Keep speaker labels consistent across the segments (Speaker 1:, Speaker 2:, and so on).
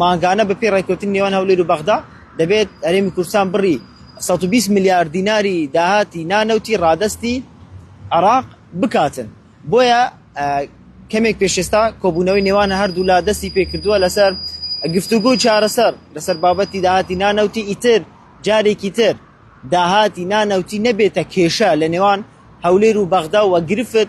Speaker 1: مانگانە بەپێی ڕێککەوتنی نێوان هەولێر و بەغدا دەبێت هەرێمی کوردستان بڕی سەد و بیست ملیار دیناری داهاتی نانەوتی ڕادەستی عێراق بکاتن بۆیە کەمێک پێشێستا کۆبوونەوەی نێوان هەردوولا دەستی پێکردووە لەسەر گفتوگو و چارەسەر لەسەر بابەتی داهاتی نانەوتی ئیتر جارێکی تر داهاتی نانەوتی نەبێتە کێشە لە نێوان هەولێر و بەغدا و گرفت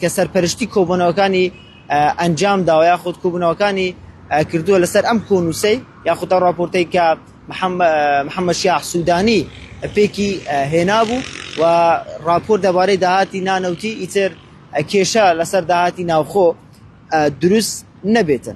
Speaker 1: کە سەرپەرشتی کۆبوونەوەکانی ئەنجام داوە یاخود کۆبوونەوەکانی کردووە لەسەر ئەم کۆنووسەی یاخود ئەو راپۆرتەی کە محەممەد شیاح سوودانی پێکی هێنابوو و راپۆرت دەبارەی داهاتی نانەوتی ئیتر کێشە لەسەر داهاتی ناوخۆ دروست نەبێتن.